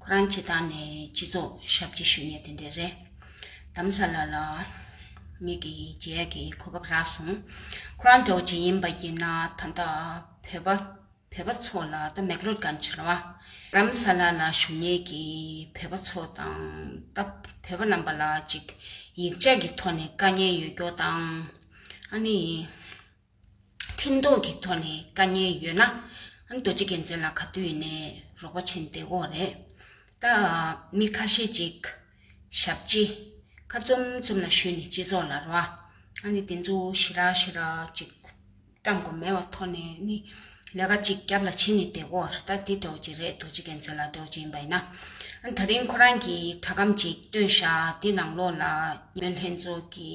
ཁོ་རང་ཁྱེད་དང་ནས་སྤྱི་ཚོགས་ཞབས་ཕྱི་ཞུ་ནས་དེ་འདྲས་རེད་གདམ་ས་ལ་ལ། མིག་གི་རྗེས་ཀྱི་གོ་སྐབས་རག་སོང། ཁོ་རང་གྲོགས་ཅིག་ཡིན་པ་ཡིན་ན་ད་ལྟ་བོད་པ་བོད་པ་ཚོ་ལ་ད་མེག་ལོར་གང་བྱེད་ར། གདམ་ས་ལ་ལ་ཞུ་ནས་ཀྱི་བོད་པ་ཚོ་དང་ད་བོད་པ་རྣམ་པ་ལ་ཅིག་ཡིག་ཆ་གི་ཐོག་ནས་དཀའ་ཉེན་ཡོད་སྐྱོ་དང་ཨ་ནི། ཁྲིམས་ཐོག་གི་ཐོག་ནས་དཀའ་ཉེན་ཡོད་ན་རྡོ་རྗེ་རྒྱལ་མཚན་ལ་ག་དུས་ཡིན་ནས་རོགས་པ་བྱིན་བདེ་བོ་རེད། ད་མི་ཁ་ཤས་ཅིག་ཞབས་སྤྱི་ཁ་རྩོམ་རྩོམ་ལ་ཞུས་ནས་སྤྱི་ཚོགས་ལ་རོ་ཨ་ནི་དེ་ཚོ་ཞི་ར་ཞི་ར་ཅིག་བཀྲམ་དགོས་མེད་བ་ཐོག་ནས་ནི་ལས་ཀ་ཅིག་རྒྱབ་ལ་བྱིན་ནས་བདེ་བོ་རེད་ད་དེ་འདྲའོ་ཅི་རེད་རྡོ་རྗེ་རྒྱལ་མཚན་ལ་འདྲའོ་ཅི་ཡིན་པ་ཡིན་ན། ད་རིང་ཁོ་རང་གིས་དྲ་སྒམ་ཅིག་བཏོན་ཤག་དེ་ནང་ལོགས་ལ་ཉོན་ལྷན་ཚོགས་ཀྱི་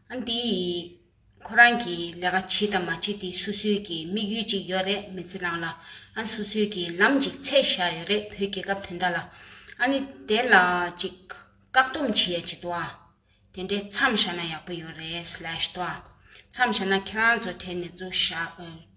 ཨ་འདི་ཡིས། ཁོ་རང་གིས་ལས་ཀ་བྱེད་དང་མ་བྱེད་དེ་སུ་སུའི་གི་དམིགས་ཡུལ་ཅིག་ཡོད་རེད་མི་ཚེ་ནང་ལ། ཨ་སུ་སུའི་གི་ལམ་ཅིག་ཚད་བཞག་ཡོད་རེད་བུ་རྒྱལ་ཁབ་དོན་དག་ལ། ཨ་ནི་དེ་ལ་ཅིག་བཀག་སྡོམ་བྱེད་ཡ་བྱེད་དོ། དེ་འདྲའི་མཚམས་བཞག་ན་ཡག་པོ་ཡོད་རེད་སླེས་དོ། མཚམས་བཞག་ན་ཁྱེད་རང་ཚོ་གྲས་ནས་ཚུར་བཞག།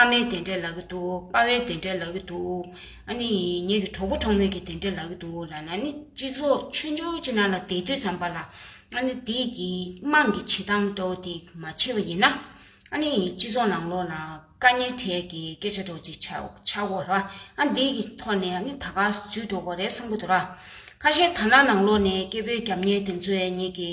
ཨ་མའི་དེ་འདྲས་ལག་གི་འདུག་དཔའ་བའི་དེ་འདྲས་ལག་གི་འདུག་ཨ་ནི་ངེད་ཀྱི་གྲོགས་པོ་གྲོགས་མོས་ཀྱི་དེ་འདྲས་ལག་གི་འདུག་ལ་ལ་ནི་སྤྱི་ཚོགས་མཆོད་འཇོར་ཅིག་ནང་ལ་བསྡད་དུས་ཙམ་པ་ལ་ཨ་ནི་དེ་གི་དམངས་ཀྱི་བྱེད་སྟངས་འདྲ་བོ་དེ་མ་ཕྱེ་བ་ཡིན་ན་ཨ་ནི་སྤྱི་ཚོགས་ནང་ལོགས་ལ་དཀའ་ཉེ་འཕྲད་ཀྱི་སྐད་ཆ་འདྲ་བོ་ཅིག་ཆགས་འགོ་ར་ཨ་འདི་གི་ཐོག་ནས་ཨ་ནི་ད་ག་ཚུད་འགྲོ་དགོས་རེད་བསམ་གོ་འདུག་ར་ཁ་ཤས་ཐ་ན་ནང་ལོགས་ནས་སྐད་འབོད་རྒྱབ་ཉེས་དེ་ཚོའི་ངེད་ཀྱི་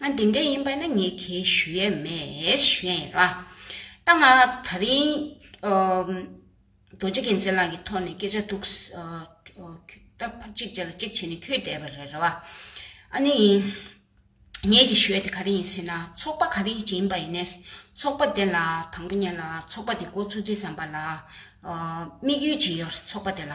ང་འདི་འདྲས་ཡིན་པ་ནི་ངས་ཁས་ཞུ་ཡས་མེད་ཞུ་ཡས་ཡིན་ར། ད་ང་ད་རིང་རྡོ་རྗེ་གན་ཚའི་ལག་གི་ཐོག་ནས་སྐད་ཆ་ཐུག་གཅིག་བྱས་ལ་གཅིག་བྱས་ནས་ཁྱོད་བསྡད་པ་རེད་ར། ཨ་ནི་ཡིན། ངས་ཁས་ཞུ་ཡས་དེ་ག་རེ་ཡིན་ཟེར་ན་ཚོགས་པ་ག་རེ་ཞིག་ཡིན་པ་ཡིན་ནས་ཚོགས་པ་དེ་ལ་དང་པོ་ཉན་ལ་ཚོགས་པ་དེ་འགོ་བཙུགས་དུས་བསམ་པ་ལ་དམིགས་ཡུལ་ཇི་ཡོད་ཚོགས་པ་དེ་ལ་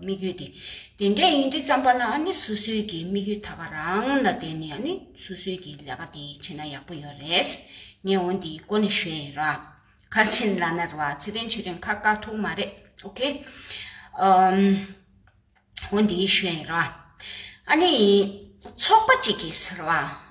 དམིགས་ཡུལ་ཏེ། དེ་འདྲས་ཡིན་དུས་བརྩམས་པ་ན་ནི་སོ་སོའི་གི་དམིགས་ཡུལ་དག་པ་རང་ལ་བརྟེན་ནས་ནི་སོ་སོའི་གི་ལས་ཀ་དེ་བྱེད་ན་ཡག་པོ་ཡོད་རེད། ངས་འོན་དེའི་སྐོར་ནས་ཤོད་ཡིན་ར། ཁར་ཆེན་ལ་ནར་བ་ཚེ་བརྟན་ཆོས་སྒྲོན་ཁ་བཀག་ཐུག་མ་རེད་ཨོ་ཁེ། འོན་དེའི་ཤོད་ཡིན་ར། ཨ་ནི། ཚོགས་པ་གཅིག་གིས་ཟེར་བ།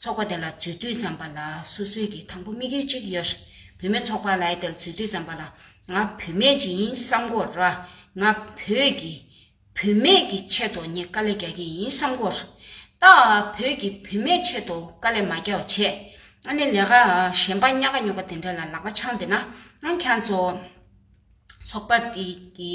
ཚོགས་པ་དེ་ལ་འཛུལ་དུས་འཇམ་པ་ལ་སུ་སུས་ཀྱིས་དང་པོ་དམིགས་ཡུལ་གཅིག་ཡོད་རེད་བུད་མེད་ཚོགས་པ་ལའི་དེར་འཛུལ་དུས་འཇམ་པ་ལ་ང་བུད་མེད་ཅིག་ཡིན་བསམ་གོར་ང་བོད་ཀྱི་བུད་མེད་ཀྱི་ཆེད་དུ་ངས་དཀའ་ལས་རྒྱག་གི་ཡིན་བསམ་གོར་ད་བོད་ཀྱི་བུད་མེད་ཆེད་དུ་དཀའ་ལས་མ་རྒྱག་བ་ཆད་ཨ་ནི་ལས་ཀ་གཞན་པ་རྙག་ག་རྙོག་ག་དེ་འདྲ་ལ་ལག་པ་འཆང་བསྡད་ན་ཨང་ཁྱང་ཚོགས་པ་དེ་གི་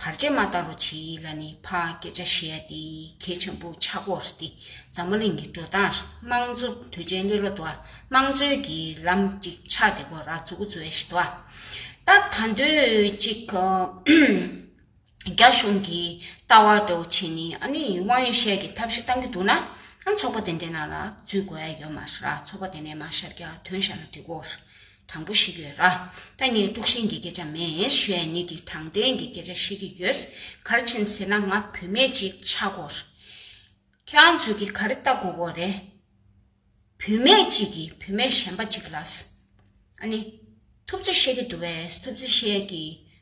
བར་ཆད་མ་ད་རུ་བྱེད་ཡིད་ལ་ནི་ཕ་སྐད་ཆ་བཤད་དེ་གལ་ཆེན་པོ་ཆག་གོ་རེ་ཏི་འཛམ་བུ་གླིང་གི་འགྲོ་སྟངས་དམངས་གཙོ་དུས་ཆེན་གླེ་ལོ་དུ་དམངས་གཙོའི་གི་ལམ་གཅིག་ཆག་དེ་གོ་ར་འཛུག་གོ་ཚོའི་ཞི་དུ་སྟབས་ད་འདོད་གཅིག་རྒྱ་གཞུང་གི་ལྟ་བ་འདྲ་བོ་བྱེད་ནི་ཨ་ནི་དབང་ཡོད་ཤས་གི་ཐབས་ཤེས་གཏང་གི་འདུག་ན་ཚོགས་པ་དེ་འདྲའི་ནང་ལ་འཛུལ་དགོས་ཡོད་མ་རེད་ཚོགས་པ་དེ་ནས་མ་ཤར་རྒྱ་དོན་ཤར་ལ་འགྲིག་གོ་རེ་དང་པོ་ཞིག་ཡོད། ད་ངས་དཀྲུག་ཤིང་གི་སྐད་ཆ་མེད་ཞོའི་ཉིད་ཀྱིས་དྲང་བདེན་གྱི་སྐད་ཆ་བཤད་ཀྱི་ཡོད། གར་ཕྱིན་ཟེར་ན་ང་བུད་མེད་ཅིག་ཆགས་གོ། ཁྱེད་རང་ཚོས་ཀྱིས་ག་རེ་ལྟ་དགོས་དགོས་རེད། བུད་མེད་ཅིག་གིས་བུད་མེད་གཞན་པ་ཅིག་ལ། ཨ་ནི། ཐུབ་ཚོད་བཤད་ཀྱི་འདུག་བས་ཐུབ་ཚོད་བཤད་ཀྱི་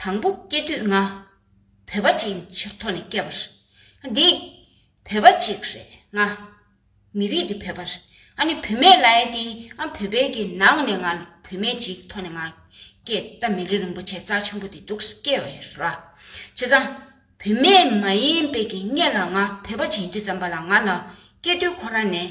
དང་པོ་སྐྱེ་དུས་ང་བོད་པ་ཅིག་ཡིན་ཕྱིར་ཐོག་ནས་སྐྱེས་པ་རེད། འདི་བོད་པ་ཅིག་རེད་ང། མི་རིགས་འདི་བོད་པ་རེད་ཨ་ནི་བུད་མེད་ལའེ་འདི་ཨ་བོད་པའི་གི་ནང་ནས་ང་བུད་མེད་ཅིག་ཐོག་ནས་ང་སྐྱེས་ད་མི་རིགས་རིན་པོ་ཆེ་རྩ་ཆེན་པོ་འདི་འདུག་སྐྱེས་བའི་ར། བྱས་ཙང་བུད་མེད་མ་ཡིན་པའི་གི་སྙད་ལ་ང་བོད་པ་ཅིག་ཡིན་དུས་ཙམ་པ་ལ་ང་ལ་སྐྱེས་དུས་ཁོ་རང་ནས་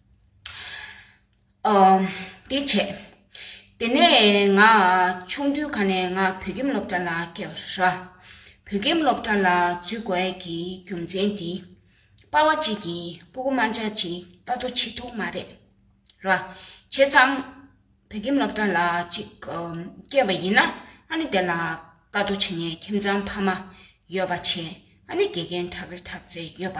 དེ་བྱས། དེ་ནས་ང་ཆུང་དུས་ག་ནས་ང་བོད་ཁྱིམ་སློབ་གྲྭ་ལ་སྐྱེལ་ར། བོད་ཁྱིམ་སློབ་གྲྭ་ལ་འཛུལ་དགོས་ཀྱི་རྒྱུ་མཚན་དེ། པར་བ་ཅིག་གིས་སྤུ་གུ་མང་ཆག་ཅིག་ལྟ་དུ་ཆི་ཐུག་མ་རེད་ར། བྱས་ཙང་བོད་ཁྱིམ་སློབ་གྲྭ་ལ་ཅིག་སྐྱེལ་བ་ཡིན་ན་ཨ་ནི་དེ་ལ་ལྟ་དུ་ཆི་ནས་ཁྱིམ་ཚང་ཕ་མ་ཡོད་པ་བྱས་ཨ་ནི་དགེ་རྒན་གྲགས་རི་གྲགས་ཚེ་ཡོད་པ་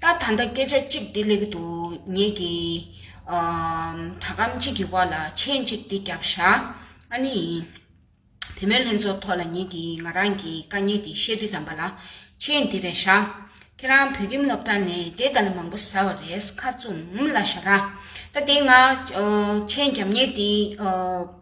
ད་ད་ལྟ་སྐད་ཆ་གཅིག་འདི་ལེགས་གི་འདུག་ངེད་ཀྱི་དྲ་གམ་གཅིག་གི་བར་ལ་མཆན་གཅིག་འདི་རྒྱབ་བཞག་ཨ་ནི་ཡིན། དེ་མོའི་ལྷན་ཚོགས་ཐོག་ལ་ངེད་ཀྱིས་ང་རང་གི་དཀའ་ངལ་འདི་བཤད་དུས་ཙམ་པ་ལ་མཆན་འདི་རེ་བཞག་ཁྱེད་རང་བོད་ཁྱིམ་སློབ་གྲྭ་ནས་འབྲས་དཀར་ལ་མང་པོ་ཟ་བ་རེད་ཁ་བཙུམ་ལ་བཞག་ར། ད་དེ་སྔ་མཆན་རྒྱབ་ཉེས་འདི།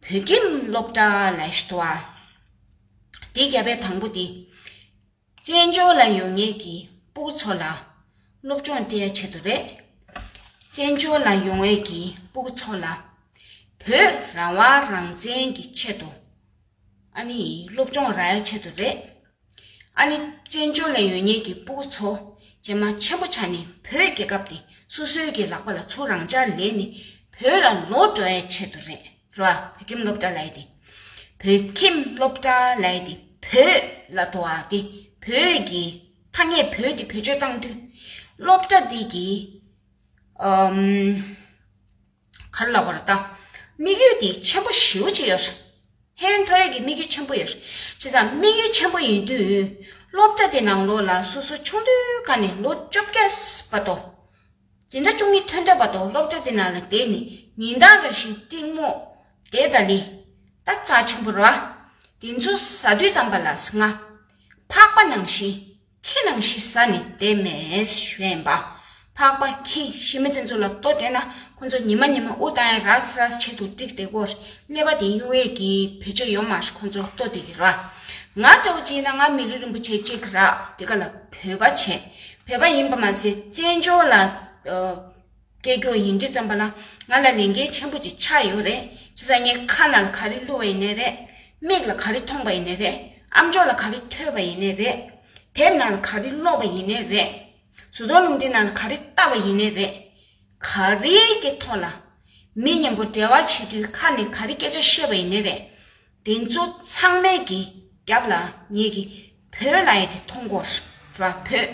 བོད་ཁྱིམ་སློབ་གྲྭ་ལ་ཞི་བ། དེ་བརྒྱ་པའི་དང་པོ་དེ། བཙན་བྱོལ་ལ་ཡོད་ངེས་ཀྱི་པུའུ་ཚོ་ལ་སློབ་སྦྱོང་སྤྲད་ཆེད་དུ་རེད། བཙན་བྱོལ་ལ་ཡོང་ངེས་ཀྱི་པུའུ་ཚོ་ལ་བོད་རང་དབང་རང་བཙན་གྱི་ཆེད་དུ་ཨ་ནི་སློབ་སྦྱོང་ར་ཡ་ཆེད་དུ་རེད། ཨ་ནི་བཙན་བྱོལ་ནས་ཡོད་ཉེས་ཀྱི་སྤུ་གུ་ཚོ། རྗེས་མ་ཆེན་པོ་བྱ་ནི་བོད་རྒྱལ་ཁབ་འདི་སོ་སོའི་གྱི་ལག་པ་ལ་ཚུགས་རང་ཅག་ལས་ནི་བོད་ལ་ལོ་འགྲོ་བའི་ཆེད་དུ་རེད་རོ་ཨ་བོད་ཁྱིམ་སློབ་གྲྭ་ལས་ཏེ། བོད་ཁྱིམ་སློབ་གྲྭ་ལས་ཏེ་བོད་ལ་དོ་ཨ་ཏེ་བོད་ཀྱི་ཐ་སྙད་བོད་དེ་བེད་སྤྱོད་བཏང་དུས། སློབ་གྲྭ་འདི་གི། ག་ལ་བར་ལྟ། དམིགས་ཡུལ་འདི་ཆེན་པོ་ཞེའུ་གཅིག་ཡོད། ཧེ་མཐོ་རིས་ཀྱི་དམིགས་ཡུལ་ཆེན་པོ་ཡོད། བྱས་ཙང་དམིགས་ཡུལ་ཆེན་པོ་ཡིན་དུས། སློབ་གྲྭ་དེ་ནང་ལོ་ལ་སོ་སོ་ཆུང་དུས་ཀ་ནས་ལོ་བཅོ་བརྒྱད་པ་དོ། འཛིན་གྲྭ་བཅུ་གཉིས་ཐོན་འདོད་པ་དོ་སློབ་གྲྭ་དེ་ནང་ལ་བསྡད་ནས་ཉིན་གྲངས་རེ་བཞིན་གཏིང་མོ། དེ་ད་ལི། ད་ཙག་ཆེན་པོ་ར། དེ་ཚོ་ཟ་དུས་ཙམ་པ་ལ་སྔ། འཕགས་པ་ནང་བཞིན། ཁྱི་རྣམས་ཤི་ས་ནི་དེ་མེད་བཞོན་པ། འཕགས་པ་ཁྱི་ཤི་མི་དེ་ཚོ་ལ་ལྟོ་སྤྲད་ན་ཁོ་ཚོ་ཉི་མ་ཉི་མ་དབུགས་དང་ཡང་རཱས་རཱས་བྱེད་དུ་བཀྲིགས་དེ་སྒོར་སླེབས་པ་དེ་གཡུང་བས་ཀྱིས་བེད་སྤྱོད་ཡོང་མ་ཧྲི་ཁོ་ཚོར་ལྟོ་དེ་གི་ར། ང་སྤྲ་བོ་ཅིག་ན་ང་མི་རི་རིན་པོ་ཆེ་གཅིག་ར་དེ་ག་ལ་བོད་པ་བྱེད་བོད་པ་ཡིན་པ་མ་ཟད་བཙན་བྱོལ་ལ། སྐད་སྒྱོགས་ཡིན་རྒྱུ་ཙམ་པ་ལ་ང་ལ་ལས་འགན་ཆེན་པོ་ཅིག་ཆགས་ཡོད་རེད་ཅེས་ཟེར་ངའི་ཁ་ན་ལ་ག་རེ་བསླུ་བ་ཡིན་ནི་རེད། མིག་ལ་ག་རེ་མཐོང་པ་ཡིན་ནི་རེད་ཨམ་ཅོག་ལ་ག་རེ་ཐོས་པ་ཡིན་ནི་རེད། དེབ་ནང་ལ་ག་རེ་ཀློག་པ་ཡིན་ནི་རེད། བཟོ་ཚོང་རླུང་འཕྲིན་ནང་ལ་ག་རེ་ལྟ་བ་ཡིན་ནི་རེད། ག་རེ་ཀྱི་ཐོག་ལ་མི་གཉེན་པོ་འབྲེལ་བ་བྱེད་དུས་ཁ་ནས་ག་རེ་སྐད་ཆ་བཤད་པ་ཡིན་ནི་རེད། དེ་ཚོ་ཚང་མའི་གི་རྒྱབ་ལ་ངེད་ཀྱི་བོད་ལྭ་ཡི་དེ་མཐོང་སྐོར་ར་བོད་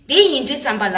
དེ་ཡིན་རྒྱུ་ཙམ་པ་ལ།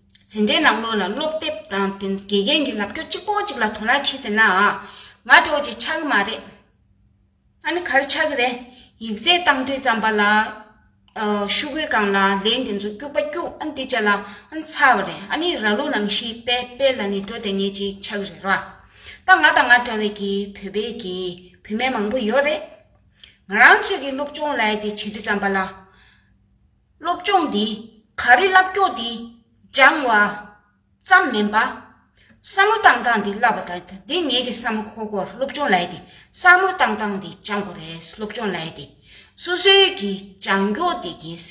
འཛིན་གྲྭའི་ནང་ལོག་ལ་སློབ་དེབ་དང་དེ་དགེ་རྒན་གྱི་ལབ་སྐྱོར་གཅིག་པོ་གཅིག་ལ་དོ་སྣང་བྱེད་དེ་ན་ང་གྲོགས་གཅིག་ཆགས་ཀྱི་མ་རེད། ཨ་ནི་ག་རེ་ཆགས་ཀྱི་རེད། ཡིག་རྩལ་བཏང་དུས་རྩམ་པ་ལ། ཤུ་གུའི་སྒང་ལ་ལན་དེ་ཚོ་སྐྱུག་པ་སྐྱུག་ཨ་འདི་བྱས་ལ་ཨ་ཚ་བ་རེད་ཨ་ནི་ར་ལུག་ནང་བཞིན་དཔལ་དཔལ་ལ་ནི་འགྲོ་དེ་ཉིད་ཅིག་ཆགས་ཀྱི་རེད་ར། ད་ང་དང་ང་འདྲ་བའི་གི་བོད་པའི་གི་བུད་མེད་མང་པོ་ཡོད་རེད། ང་རང་ཚོས་གི་སློབ་སྦྱོང་ལ་དེ་བྱེད་དུས་རྩམ་པ་ལ། སློབ་སྦྱོང་འདི་ག་རི་བསླབ་སྐྱོ་འདི་སྦྱང་བ་ཙམ་མིན་པ། བསམ་བློ་བཏང་སྟངས་འདི་བསླབ་པ་དང་འདི་ངེད་ཀྱི་བསམ་བློ་ཁོ་སློབ་སྦྱོང་ལ་ཡེ་སྟེ་བསམ་བློ་བཏང་སྟངས་འདི་སྦྱང་བ་རེད་སློབ་སྦྱོང་ལ་ཡེ་སྟེ་སོ་སོའི་གི་བྱང་མགྱོགས་འདི་གིས་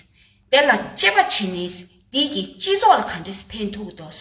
དེ་ལ་དཔྱད་པ་བྱེད་ནས་འདི་གི་སྤྱི་ཚོགས་ལ་ག་འདྲས་ཕན་ཐོགས་འདོགས།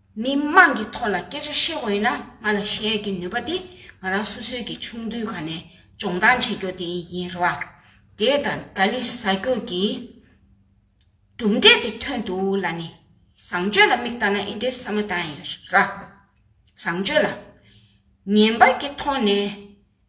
མི་དམངས་ཀྱི་ཐོག་ལ་སྐད་ཆ་བཤད་དགོས་ཡོད་ན་ང་ལ་བཤད་ཡ་གི་ནུས་པ་དེ་ང་རང་སོ་སོའི་གི་ཆུང་དུས་ག་ནས་སྦྱོང་སྟངས་བྱེད་རྒྱོ་དེ་ཡིན་རེད་བ། དེ་དང་ད་ལི་ཟ་རྒྱོ་གི་གྲུབ་འབྲས་དེ་ཐོན་འདུག་ལ་ནི་བཟང་སྤྱོད་ལ་མིག་བལྟ་ན་ཨི་འདྲའི་ས་མ་ཏང་ཡོད་རེད་བ། བཟང་སྤྱོད་ལ་ངན་པ་གི་ཐོག་ནས་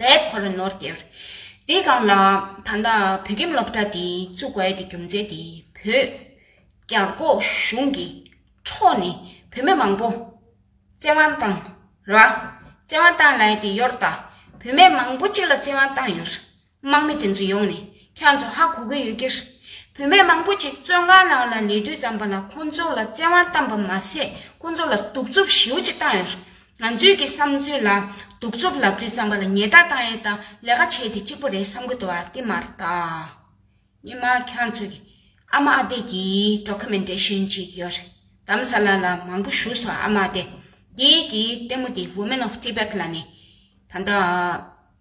དེ་ཁོ་རང་ནོར་གྱིར། དེ་གང་ལ། ད་ལྟ་བོད་ཁྱིམ་སློབ་གྲྭ་དེ་བཙུགས་བས་དེ་རྒྱུ་མཚན་དེ་བོད། རྒྱ་སྒོ་གཞུང་གི་ཕྱོགས་ནས་བོད་མི་མང་པོ། བཙན་དབང་བཏང་ར། བཙན་དབང་བཏང་ལ་དེ་ཡོར་ད། བོད་མི་མང་པོ་གཅིག་ལ་བཙན་དབང་བཏང་ཡོར། དམག་མི་དེ་ཚོ་ཡོང་ནས་ཁྱོད་ཚོ་ཧ་གོ་གི་ཡོད་ཀི། བུད་མེད་མང་པོ་ཅིག་བཙོན་ཁང་ནང་ལ་ཉལ་དུས་བརྩམས་པ་ལ་ཁོ་ཚོ་ལ་བཙན་དབང་བཏང་པ་མ་ཟད་ཁོ་ཚོ་ལ་གདུག་རྩུབ་ཞེའུ་ཅིག་བཏང་ཡོད། ང་ཚོས་ཀྱི་བསམ་ཚུལ་ལ་གདུག་རྩུབ་ལབ་དུས་བརྩམས་པ་ལ་ཉལ་ཐ་བཏང་ཡས་དང་ལས་ཀ་བྱས་དེ་གཅིག་པོ་རེད་བསམ་གི་འདུག་ཨ་ཏི་མ་ར་ད། ཉི་མ་ཁྱོད་ཚོ་གི་ཨ་མ་ཨ་དེ་གི Documentation ཅིག་ཡོད་རེད་དམ་ས་ལ་ལ་མང་པོ་བཞུགས་སོང་ཨ་མ་ཨ་དེ་དེའི་གི་ལྟད་མོ་དེ Women of Tibet ལ་ནས་ད་ལྟ།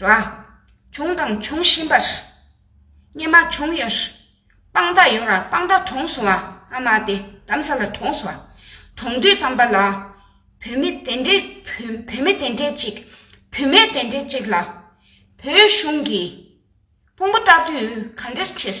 ར། བྱུང་དང་འབྱུང་བཞིན་པ། སྙེ་མ་བྱུང་ཡོད། སྤང་མདའ་ཡོད་ར་སྤང་མདའ་གྲོངས་སོང་ཨ་མ་དེ་གདམ་ས་ལ་གྲོངས་སོང། གྲོངས་དུས་ཙམ་པ་ལ། བུད་མེད་དེ་འདྲས་བུད་མེད་དེ་འདྲས་ཅིག་བུད་མེད་དེ་འདྲས་ཅིག་ལ། བོད་གཞུང་གིས། དཔུང་པ་སྐྲག་དུས་ག་འདྲས་བྱེད།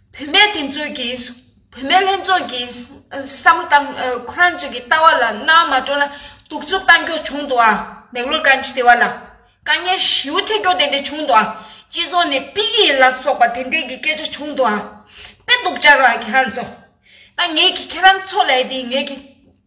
བུད་མེད་དེ་ཚོས་ཀྱིས་བུད་མེད་ལྷན་ཚོགས་ཀྱི་བསམ་བློ་དང་ཁོ་རང་ཚོས་ཀྱི་ལྟ་བ་ལ་སྣང་མ་སྤྲོ་ན་གདུག་རྩུབ་གཏང་རྒྱུ་བྱུང་འདུག་ཨ་མེག་ལོར་དཀའ་ངལ་དེ་བ་ལ་དཀའ་ངལ་ཞི་བོ་འཕྲད་རྒྱུ་དེ་འདྲས་བྱུང་འདུག་ཨ་སྤྱི་ཚོགས་ནས་དཔིག་ཡིག་ལ་སོགས་པ་དེ་འདྲས་ཀྱི་སྐད་ཆ་བྱུང་འདུག་ཨ་དཔེ་དུག་ཅར་བ་ཁྱེད་རང་ཚོ་ད་ངེད་ཀྱི་ཁྱེད་རང་ཚོ་ལས་དེ་ངེད་ཀྱི།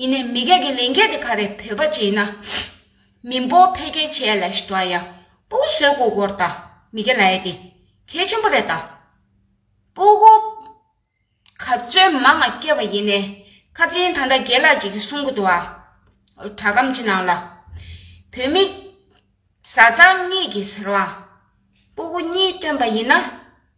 ཡིན་ནས་མི་སྒེར་གྱི་ལས་འགན་དེ་ག་རེ་བོད་པ་བྱས་ན་མི་འབོར་འཕེལ་རྒྱས་ཆེ་ཡ་ལ་ཞིག་འགྲོ་ཨ་ཡ་པོ་གོ་ཟོས་གོ་གོར་ད་མི་སྒེར་ལ་ཡ་དེ་གལ་ཆེན་པོ་རེད་ད། པོ་གོ་ག་བཙོན་མ་ང་སྐྱེ་བ་ཡིན་ནས་ཁ་ཆེན་ད་འདྲ་རྒྱལ་ལགས་ཅིག་གི་གསུང་གོ་འདུག་ཨ། དྲ་སྒམ་ཆེ་ནང་ལ་བོད་མི་བཟའ་ཚང་གཉིས་ཀྱི་ཟེར་བ་པོ་གོ་གཉིས་བཏོན་པ་ཡིན་ན།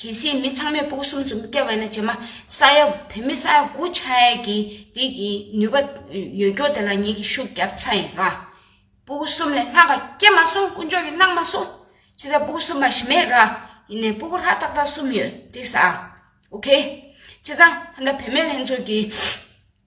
གལ་སྲིད་མི་ཚང་མས་སྤུག་གསུམ་ཙམ་བསྐྱལ་བས་ན་བྱེ་མ་ས་ཡ་བོད་མི་ས་ཡ་དགུ་ཆ་ཡ་གི་དེ་གི་ནུས་པ་ཡོད་སྐྱོར་དེ་ལ་ངེད་ཀྱིས་ཤུགས་བརྒྱབ་ཚ་ཡིན་ར། སྤུག་གསུམ་ལས་སྣག་ག་སྐྱེ་མ་སོང་དཀོན་མཆོག་གིས་གནང་མ་སོང། ཕྱི་ཟ་སྤུག་གསུམ་མ་ཞི་མེད་ར། ཡིན་ནའི་སྤུག་ལྷག་ཏག་ཏག་གསུམ་ཡོད་འགྲིགས་ས། ཨོ་ཁེ། ཁྱེད་ཚང་ད་ལྟ་བོད་མི་ལྷན་ཚོགས་ཀྱི།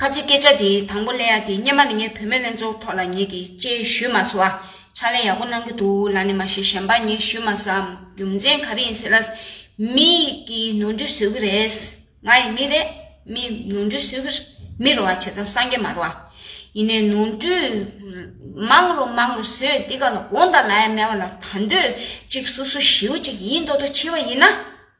ཁ་ཆེ་སྐད་ཆ་དེ་དང་པོ་གླེང་ཡ་དེ་སྙེ་མ་ནི་ངའི་བུད་མེད་ལྷན་ཚོགས་ཐོག་ལ་ངེད་ཀྱིས་དཔྱད་ཞུས་མ་སོ་ཨ། ཕྱག་ལེན་ཡག་པོ་གནང་གི་འདུག་ལ་ནི་མ་ཤེས་གཞན་པ་ངས་ཞུས་མ་སོ་ཨ། རྒྱུ་མཚན་ག་རེ་ཡིན་ཟེར་ན། མི་གིས་ནོར་འཁྲུལ་བཟོས་ཀྱི་རེད། ང་ཡི་མི་རེད། མི་ནོར་འཁྲུལ་བཟོས་ཀྱི། མི་རོ་བ་བྱས་ཙང་སངས་རྒྱས་མ་རོ་ཨ། ཡིན་ནའི་ནོར་འཁྲུལ། མང་རུ་མང་རུ་བཟོས་འདི་ག་ལ་དགོངས་དག་ལ་ཡ་མེད་བ་ལ་ད་འདོད་ཅིག་སུ་སུ་ཞེའུ་ཅིག་ཡིན་མདོག་མདོག་བྱེད་བ་ཡིན་ན།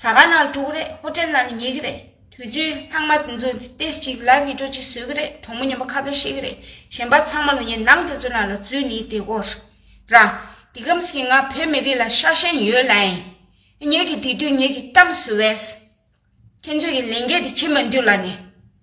ཟ་ག་ནང་དཀྲུག་གི་རེད་ཧོ་ཏེལ་ནང་ནས་ཉོས་ཀྱི་རེད་དུས་ཚོད་ལྷག་མ་དེ་ཚོ་ཏེས་ཅིག་ལ་བིད་ཀྲོ་ཅིག་བཟོས་ཀྱི་རེད་གྲོགས་མོ་ཉན་པ་ཁ་བརྡ་བཤད་ཀྱི་རེད་གཞན་པ་ཚང་མ་ལོ་ཉེས་ནང་དེ་ཚོ་ནང་ལ་བཙུད་ནི་དེ་གོ་ར་འདི་ཁམས་སྐྱེ་ང་བོད་མི་རིགས་ལ་ཤ་ཞེན་ཡོད་ལ་ཨེ་ཉོས་ཀྱི་དེ་དུས་ཉོས་ཀྱི་གཏམ་བཟོ་བས་ཁྱེད་ཚོས་ཀྱི་ལས་འགན་དེ་བྱེད་མ་འདུག་ལ་ནི།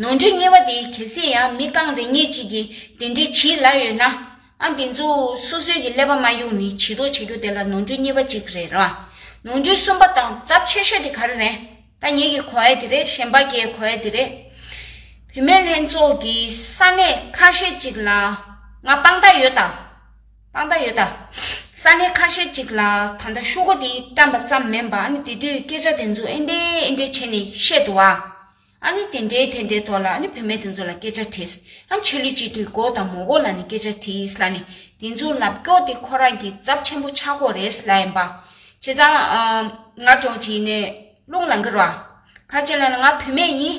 ནོར་འཁྲུལ་གཉེར་བ་དེ་གལ་སྲིད་ཡང་མི་རྐང་རེ་གཉིས་གཅིག་གིས་དེ་འདྲའི་བྱིས་གླ་ཡོད་ན། ཨ་དེ་ཚོ་སོ་སོའི་གི་ཀླད་པ་མ་གཡུགས་ནི་བྱིས་དོགས་བྱ་རྒྱུ་དེ་ལ་ནོར་འཁྲུལ་གཉིས་པ་གཅིག་རེད་ར། ནོར་འཁྲུལ་གསུམ་པ་དང་རྫབ་ཆེ་ཤོས་དེ་ག་རེ་རེད། ད་ངེད་ཀྱི་གོ་ཨེ་དེ་རེད་གཞན་པ་ཀའི་གོ་ཨེ་དེ་རེད། བུད་མེད་ལྷན་ཚོགས་ཀྱི་ས་གནས་ཁ་ཤས་གཅིག་ལ་ང་དཔང་རྟགས་ཡོད་ད། སྤང་ད་ཡོད་ད། ས་གནས་ཁ་ཤས་ཅིག་ལ་ད་ལྟ་ཤོག་སྒོ་དེ་བཀྲམ་པ་ཙམ་མིན་པ་ཨ་ནི་དེ་དུས་སྐད་ཆ་དེ་ཚོ་ཨེ་འདྲས་ཨེ་འདྲས་བྱས་ནས་བཤད་འདུག་ཨ། ཨ་ནི་དེ་འདྲའི་དེ་འདྲའི་ཐོག་ལ་ཨ་ནི་བུད་མེད་དེ་ཚོ་ལ་སྐད་ཆ་དྲིས། ཨ་ཆོས་ལུགས་སྤྱི་འཐུས་མགོ་དང་མོ་མགོ་ལ་ནི་སྐད་ཆ་དྲིས་ལ་ནི་དེ་ཚོའི་ལབ་སྐྱོ་དེ་ཁོ་རང་གི་ཚབ་ཆེན་པོ་ཆགས་ཁོ་རེད་ལ་ཡིན་པ། བྱས་ཙང། ང་གྲོངས་ཀྱིས་ནི་རླུང་ལ་འགིར་བ། ཁ་ཅིག་ལ་ནི་ང་བུད་མེད་ཡིན།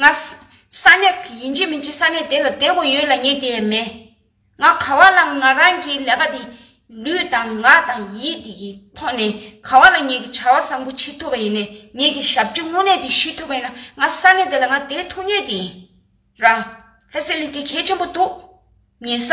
ང། ས་གནས། ཡིན་གྱི་མིན་གྱི་ས་གནས་དེ་ལ་བསྡད་དགོས་ཡོད་ལ་ངས་དེ་ཡས་མེད། ང་ག་བ་ལ་ང་རང་གི་ཀླད་པ་དེ། ལུས་དང་ངག་དང་ཡིད་དེ་གི་ཐོག་ནས་ག་བ་ལ་ངས་ཀྱི་བྱ་བ་བཟང་པོ་བྱེད་ཐུབ་པ་ཡིན་ནས་ངས་ཀྱི་ཞབས་ཕྲི་དངོས་གནས་དེ་ཞུས་ཐུབ་པ་ཡིན་ན་ང་ས་གནས་དེ་ལ་ང་བསྡད་ཐུབ་ངེས་དེ་ཡིན། རང། Facility། གལ་ཆེན་པོ་འདུག། ཉེ་ས།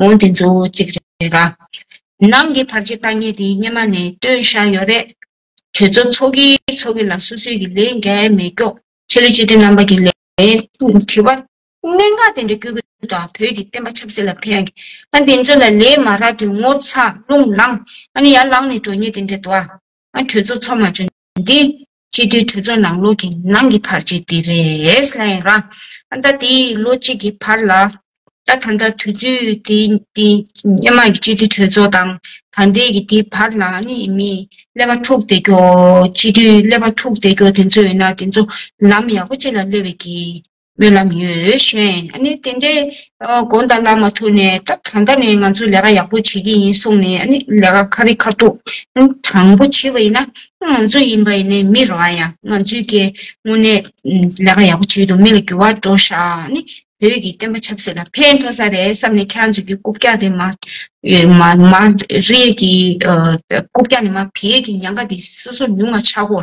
འོན་ཏེ་མཛོད་བོ་གཅིག་རེད་ལ། ནང་གི་བར་ཆད་བརྟག་ཉེས་དེ་སྙེ་མ་ནས་བཏོན་བཞག་ཡོད་རེད། ཁྱོད་ཚོ་ཚོགས་ཀྱི་ཚོགས་ཀྱི་ལ་སོ་སོའི་གི་ལས་འགལ་མེད་སྐྱོགས་ཆེ་ལོ་སྤྱི་མཐུན་རྣམ་པ་གི་ལས་དྲི་བ་གནད་འགག་དེ་འདྲ་བསྐྱོད་གི་འདུག་ད་བོད་ཀྱི་བསྟན་པ་ཆབ་སྲིད་ལ་ཕན་གི་ཨ་འདི་ཚོ་ལ་ལས་མ་རག་དུས་ངོ་ཚ་རླུང་ལངས་ཨ་ནི་ཡར་ལངས་ནས་འགྲོ་ཉེས་དེ་འདྲ་འདུག་ཨ་ཁྱོད་ཚོ་ཚོགས་མ་བྱོ་འདི། སྤྱི་འཐུས་གྲོས་ཚོགས་ནང་ལོགས་ཀྱི་ནང་གི་བར་ཆད་དེ་རེད། ལན། ར། ཨ་མདའ་དེ་ལོ་གཅིག་གི་བར་ལ། ད་ད་ལྟ་དུས་ཚོད་དེ་དེ་སྙེ་མ་གི་སྤྱི་འཐུས་གྲོས་ཚོགས་དང་ད་ལྟའི་གི་དེ་བར་ལ་ནི་མི་ཀླད་པ་འཁྲུགས་བསྡད་རྒྱོ། སྤྱི་འཐུས་ཀླད་པ་འཁྲུགས་བསྡད་རྒྱོ་དེ་ཚོ་ཡིན་ན་དེ་ཚོ་ལམ་ཡག་པོ་ཅིག་ལ་སླེབས་བའི་གི། སྨོན་ལམ་ཡོད་གཞོན་ཨ་ནི་དེ་འདྲའི་དགོན་དང་བླ་མ་ཐུག་ནས་ད་གང་ལྟ་ནས་ང་ཚོས་ལས་ཀ་ཡག་པོ་བྱེད་ཀྱི་ཡིན་གསུངས་ནས་ཨ་ནི་ལས་ཀ་ཁ་རི་ཁ་ཐུག་དྲང་པོ་བྱེད་པ་ཡིན་ན་ང་ཚོ་ཡིན་པ་ཡིན་ནའི་མི་རོ་ཨ་ཡ་ང་ཚོའི་སྐད་དངོས་གནས་ལས་ཀ་ཡག་པོ་བྱེད་འདུག་མི་ལ་འགྱུར་བ་འགྲོ་ཤག་ཨ་ནི་བོད་ཀྱི་བསྟན་པ་ཆབ་སྲིད་ལ་ཕན་ཐོགས་ས་རེད་བསམ་ནས་ཁྱེད་ཚོ་གི་རྐུབ་བཀྱག་དེ་མ་རེད་ཀྱི་རྐུབ་བཀྱག་ནི་མ་བེད་ཀྱི་ཉང་ཀ་དེ་སོ་སོར་ཉུང་མ་ཆག་གོ།